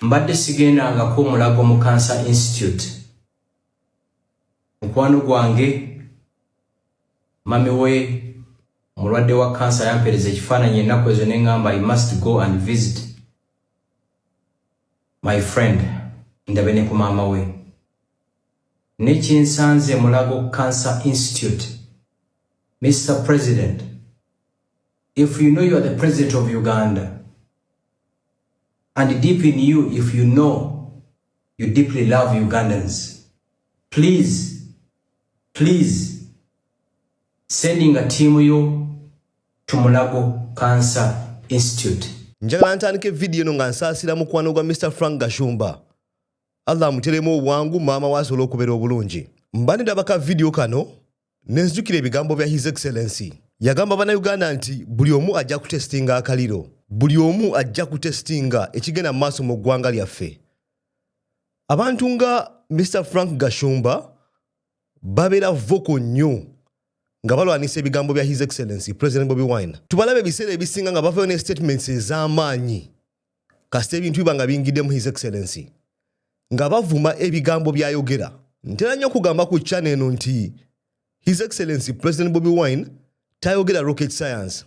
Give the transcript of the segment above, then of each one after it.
mbadde sigendangako mulago mu cancer institute mukwano gwange mami we omulwadde wa kansa yampereza ekifaananyi ennaku ezo ne ŋŋamba i must go and visit my friend ndabe ne ku maama we nekyensanze mulago cancer institute mr president if you know you are the president of uganda And deep in you, if you know you deeply love Ugandans, please, please, sending a team yo to Mulago Cancer Institute. Njagala ntandike video no nga nsaasira mukwano gwa Mr. Frank Gashumba. Allah amuteremu obwangu maama waasobola okubeera obulungi. Mba ndaba ka video kano nenzijukira ebigambo bya his excellency yagamba banauganda nti buli omu ajja kutestinga akaliro buli omu ajja kutestinga ekigenda mu maaso mu ggwanga lyaffe abantu nga mr frank gashumba babeera voko nnyo nga balwanisa ebigambo bya his excellency president bobi wine tubalabe ebiseera ebisinga nga bavayo ne statements ez'amaanyi kasita ebintu biba nga biyingidemu his excellency nga bavuma ebigambo byayogera ntera nnyo okugamba ku chana eno nti his excellency president bobi wine tayogera rocket science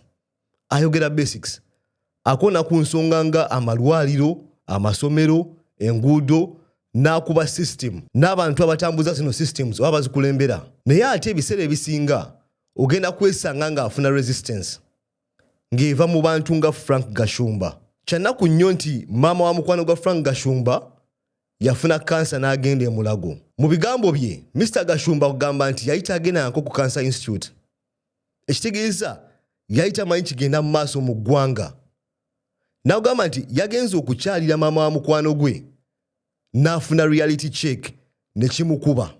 ayogera basics akona ku nsonga nga amalwaliro amasomero enguudo n'akuba system n'abantu abatambuza zino systems oba bazikulembera naye ate ebiseera ebisinga ogenda kwesanga ng'afuna resistance ng'eva mu bantu nga frank gashumba kyanaku nnyo nti maama wa mukwano gwa frank gashumba yafuna kansa n'agenda emulago mu bigambo bye mr gashumba kugamba nti yali tagendanako ku kansa institute ekitegeeza yali tamanyi kigenda mu maaso mu ggwanga n'agamba nti yagenze okukyalira maama wa mukwano gwe n'afuna reality check ne kimukuba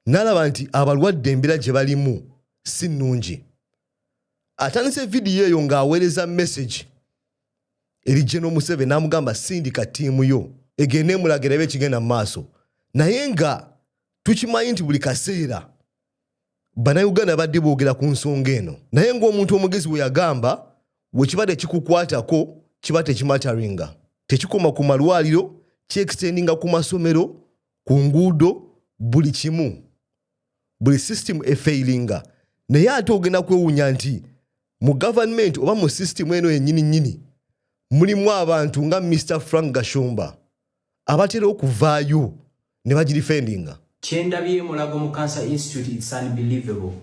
nalaba nti abalwadde embeera gye balimu si nnungi atandise vidiyo eyo ng'aweereza mesagi eri geno museve n'amugamba sindika ttiimu yo egende emulaga erabe ekigenda mu maaso naye nga tukimanyi nti buli kaseera bannayuganda badde boogera ku nsonga eno naye ng'omuntu omugezi we yagamba wekiba tekikukwatako kiba tekimataringa tekikoma ku malwaliro kyekisendinga ku masomero ku nguudo buli kimu buli system efailinga naye ate ogenda kwewunya nti mu government oba mu system eno yenyini nyini mulimu abantu nga mr frank gashumba abatera okuvaayo ne bagirifendinga kyendabye mulago mu cancer institute its unbelievable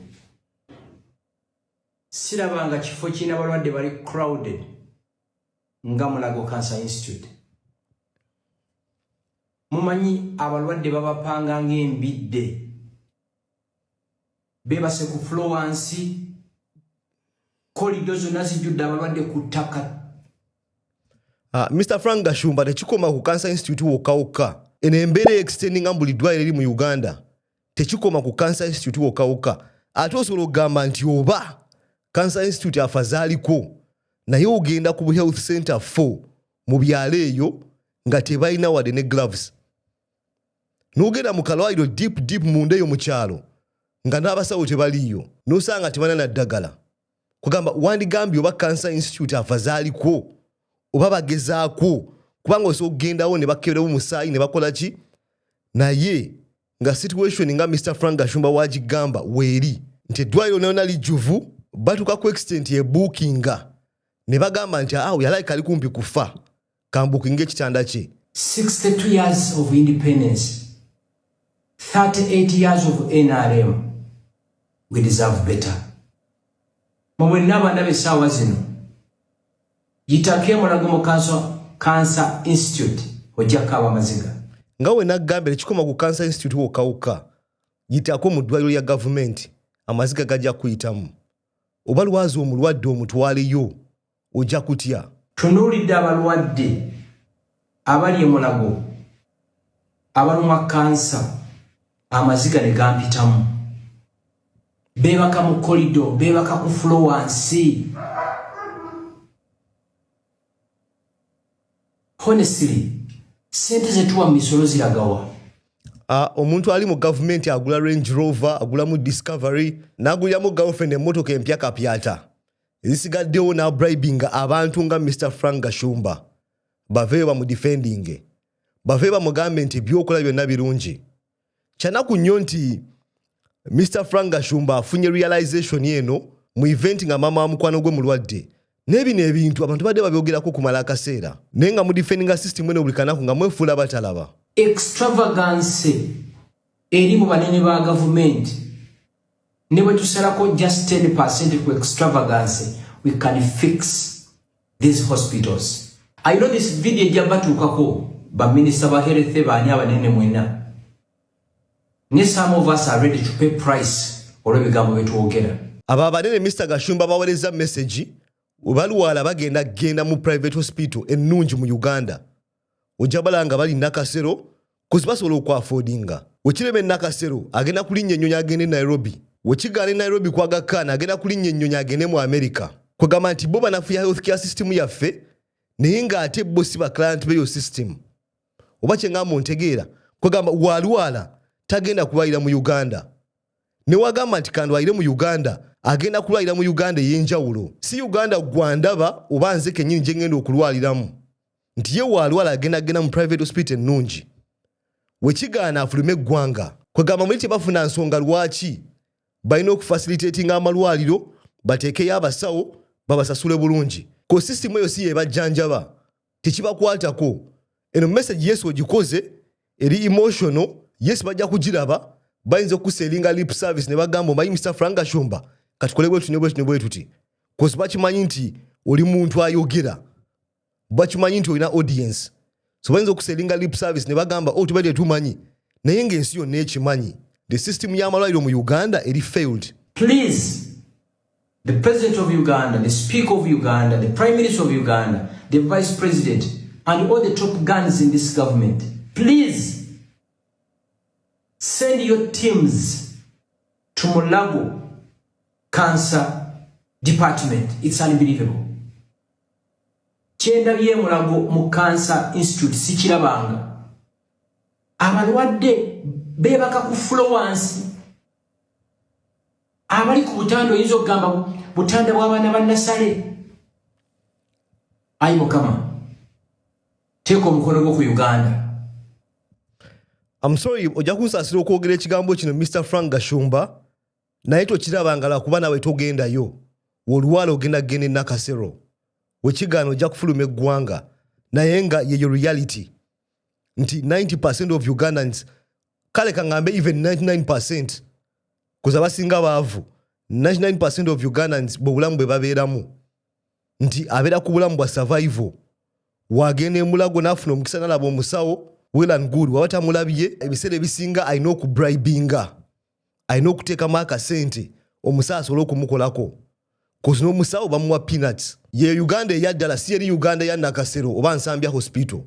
sirabanga kifo kirina balwadde bali crowded nga mulago cancer institute Mumanyi abalwadde babapanga ng'embidde beebase ku fulo wansi kolido zonna zijjudde abalwadde ku ttaka uh, ah, mr frank gashumba tekikoma ku cancer institute wokka wokka eno embeera extendinga mu buli ddwaliro eri mu uganda tekikoma ku cancer institute wokka wokka ate osobola okugamba nti oba cancer institute afazaaliko naye ogenda ku health center 4 mu byalo eyo nga tebalina wadde ne gloves nogenda mu kalwaliro deep deep munda eyo mu kyalo nga n'abasawo tebaliiyo nosanga tebana naddagala kugamba wandigambye oba cancer institute afa zaalikwo oba bagezaakwo kubanga osobola okugendawo ne bakeberewo musaayi ne bakola ki naye nga situation nga mr frank gashumba wagigamba weeri nti eddwaliro nayona lijjuvu batuuka ku extent ebuukinga ne bagamba nti awo yalaika ali kumpi kufa kambukinga ekitanda kye 62 years of independence 38 years of nrm we deserve better mumwenna abaana besaawa zino yitako emulago mu cancer institute ojjakaaba amaziga nga we naggambira kikoma ku cancer institute wokawuka yitako mu ddwaliro lya gavumenti amaziga gajja kuyitamu oba lwazi omulwadde omutwaleyo ojja kutya. Tunuulidde abalwadde abali emulago abalumwa kansa amaziga ne gampitamu beebaka mu kolido beebaka ku fulo wansi honestly sente zetuwa mu misolo ziragawa ah, omuntu ali mu gavumenti agula range rover agulamu discovery naguliramu girlfriend emmotoka empya kapyata ezisigaddewo n'abribinga abantu nga mr frank gashumba baveeyo bamudifendinge baveeyo bamugambe nti ebyokola byonna birungi kyanaku nnyo nti mr frank gashumba afunye realization eno mu event nga maama wa mukwano gwe mulwadde naye bino ebintu abantu badde babyogerako okumala akaseera naye nga mudifendinga system eno buli kanaku nga mwefuula batalaba extravagancy eri mu banene ba gavumenti ne bwe tusalako just 10 percent ku extravagance we can fix these hospitals i know this video ejja batuukako baminisita ba health baani abanene mwena ne some of us are ready to pay price olw'ebigambo bye twogera abo abanene mr gashumba bawereza message webalwala bagenda genda mu private hospital ennungi mu uganda ojja balaba nga bali nakasero kozi basobola okwafodinga wekirema enakasero agenda kulinnya ennyonyi agende nairobi wekigaana e nairobi kwaga khan agenda kulinnya ennyonyi agende mu amerika kwegamba nti bo banafuya health care system yaffe naye ng'ate bo si baclient beyo system oba kyengamba ontegeera kwegamba walwala tagenda kulwalira mu uganda newagamba nti kandwalire mu uganda agenda kulwalira mu uganda ey'enjawulo si uganda gwandaba oba nze kennyini gye ngenda okulwaliramu nti ye waalwala agenda agenda mu private hospital ennungi wekigaana afulume eggwanga kwegamba muli tebafuna nsonga lwaki balina okufasilitatinga amalwaliro bateekeyo abasawo babasasule bulungi ko sisitimu eyo si yebajjanjaba tekibakwatako eno message yesu ogikoze eri emotional yes bajja kugiraba bayinza okuselinga lip service ne bagamba omanyi mr franga shumba katukole bwetuti ne bwetuti ne bwetuti kozi bakimanyi nti oli muntu ayogera bakimanyi nti olina audience so bayinza okuselinga lip service ne bagamba oh, tubadde tumanyi naye ng'ensi yonna ekimanyi the system y'amalwaliro mu uganda eri failed please the president of uganda the speaker of uganda the prime minister of uganda the vice president and all the top guns in this government please send your teams to mulago cancer department it's unbelievable kyendabye emulago mu cancer institute sikirabanga abalwadde bebaka ku flowansi abali ku butanda oyinza okugamba butanda bwabaana bannasale ayi mukama teeka omukono gwo ku uganda amusoyi ojja kunsasira okwogera ekigambo kino mr frank gashumba naye tokiraba nga lwakuba nawe togendayo wolwala ogenda kugenda enakasero wekigaana ojja kufuluma eggwanga naye nga yeyo reality nti 90 percent of ugandans kale kangambe even 99 percent kuza basinga baavu 99 percent of ugandans bwobulamu bwe babeeramu nti abeera ku bulamu bwa survival wagenda emulago nafuna omukisa nalaba omusawo well and good waba tamulabye ebiseera ebisinga alina okubribinga alina okuteekamu akasente omusawo asobole okumukolako kozi n'omusawo bamuwa peanuts ye uganda eya ddala si yeri uganda ya nakasero oba nsambya hospital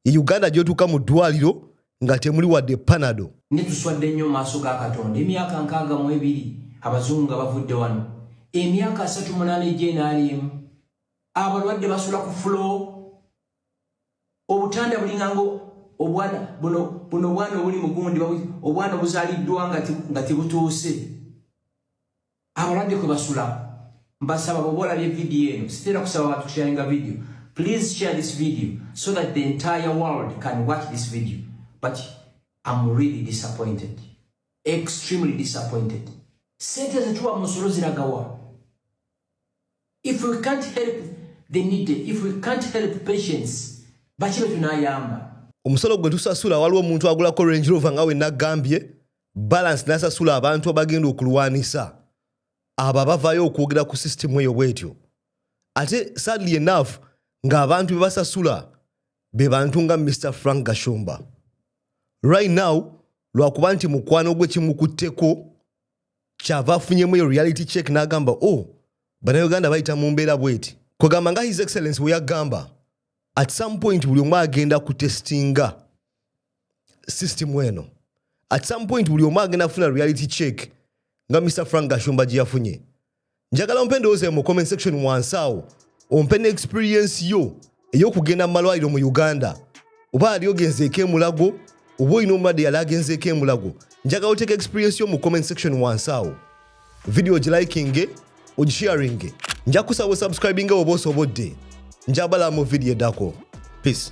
ye uganda gyotuuka mu ddwaliro nga temuli wadde panado ne tuswadde nnyo maaso ga katonda emyaka nkaaga mu ebiri abazungu nga bavudde wano emyaka asatu munaana egy'enaaliemu abalwadde basula ku fuloo obutanda bulingango obwana buno buno bwana obuli mugundi obwana obuzaliddwa nga tebutuuse abalwadde kwe basula mbasaba bwoba olabye vidiyo eno sitera kusaba abantu kusharinga vidiyo please share this video so that the entire world can watch this video but am really disappointed extremely disappointed sente zetuwa musolo ziragawa if we can't help the needy if we can't help patients baki betunayamba omusolo gwe tusasula waliwo omuntu agulako range rover nga wenagambye balance nasasula abantu abagenda okulwanisa abo abavayo okwogera ku system eyo bwetyo ate sadly enough ngaabantu bebasasula be bantu nga mr frank gashumba right now lwakuba nti mukwano gwe kimukutteko kyava afunyemu eyo reality check n'agamba o oh, banauganda bayita mu mbeera bweti kwegamba nga his excellence weyagamba at some point buli omu agenda kutestinga system eno at some point buli omu agenda kufuna reality check nga mr frank gashumba gye yafunye njagala ompe endowooza mu comment section wansi awo ompe ne experience yo ey'okugenda mu malwaliro mu uganda oba ali ogenzeeko emulago oba olina omulwadde yali agenzeeko emulago njagala oteeka experience yo mu comment section wansi awo vidiyo ogilikinge ogisharinge nja kusaba osubscribinga oba osobodde njabala mu vidiyo eddako peace